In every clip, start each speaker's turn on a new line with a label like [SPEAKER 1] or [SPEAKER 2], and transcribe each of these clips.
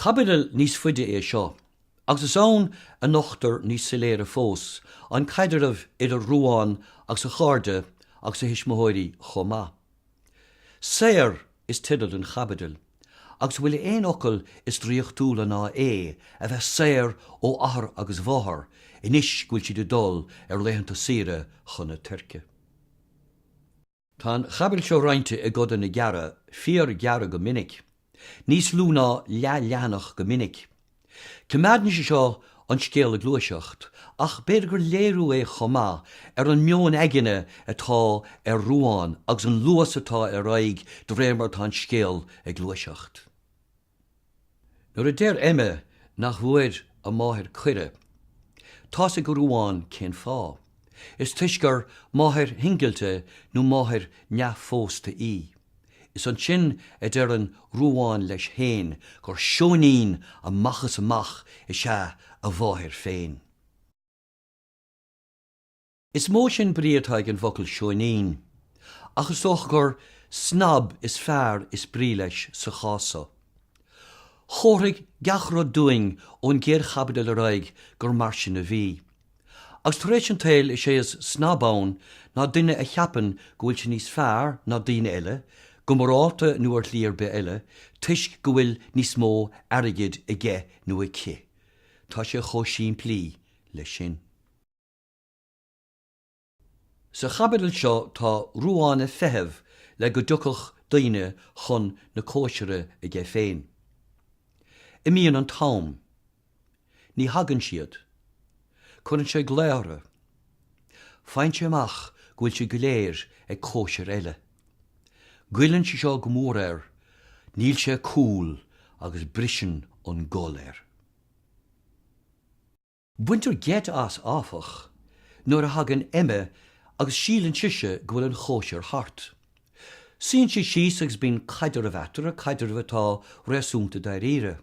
[SPEAKER 1] Caibidil níos faide é seo agus is ann a nochtar níos soiléire fós an caidreamh idir Ruán agus a chairde agus a thuismitheoirí chomh maith. Saor! is teideal don chaibidil, agus an bhfuil aon fhocal is draíochtúla ná é a bheith saor ó athair agus máthair anois go bhfuil siad ag dul ar laethanta saoire chun na Tuirce. Tá an chaibidil seo roinnte i gcodanna gearra, fíor-ghearra go minic, Níos lú ná leath leathanach go minic. Coimeádann sé seo an scéal ag gluaiseacht ach b'fhéidir gur léiriú é chomh maith ar an meon aigne atá ar Ruán agus an luas atá ar aghaidh de réir mar atá an scéal ag gluaiseacht. Nuair a deir Emma nach bhfuair a máthair cuireadh, tá's ag Ruán cén fáth. Is toisc gur máthair shingilte nó máthair neamhphósta í. Is ansin a deireann Ruán leis féin gur seoinín amach is amach is ea a mháthair féin. Is mó sin brí atá ag an bhfocal seoinín, ach is dócha gur snab is fearr is brí leis sa chás so. Chomharthaigh gach rud dúinn ón gcéad chaibidil ar aghaidh gur mar sin a bhí. Agus tar éis an tsaoil is é is snab ann ná duine a cheapann go bhfuil sé níos fearr ná daoine eile, go morálta nó ar shlí ar bith eile, toisc go bhfuil níos mó airgid aige nó aici. Tá sé chomh simplí leis sin. Sa chaibidil seo tá Ruán ag feitheamh le go dtiocfadh daoine chun na cóisire aige féin. Imíonn an t-am. Ní thagann siad. Cuireann sé glaonna. Faigheann sé amach go bhfuil siad go léir ag cóisir eile. Goilleann sé seo go mór air, níl sé cool agus briseann an gol air. Baintear geit as, áfach, nuair a thagann Emma agus síleann sise go bhfuil an chóisir thart. Suíonn sí síos agus bíonn caidreamh eatarthu, caidreamh atá réasúnta dáiríre.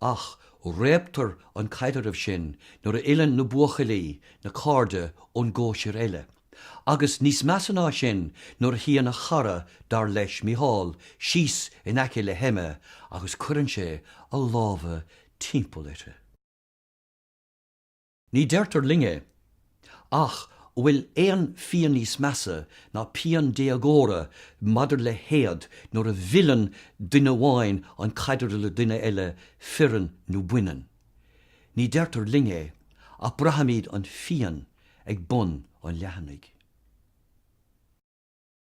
[SPEAKER 1] Ach réabtar an caidreamh sin nuair a fhilleann na buachaillí, na cairde, ón gcóisir eile. Agus, níos measa ná sin, nuair a shuíonn a chara, dar leis, Micheál, síos in aice le hEmma agus cuireann sé a lámha timpeall uirthi. Ní deirtear linn é. Ach an bhfuil aon phian níos measa ná pian déagóra maidir le héad nuair a mhilleann duine amháin an caidreamh le duine eile fireann nó baineann? Ní deirtear linn é ach braithimid an phian ag bun an leathanaigh.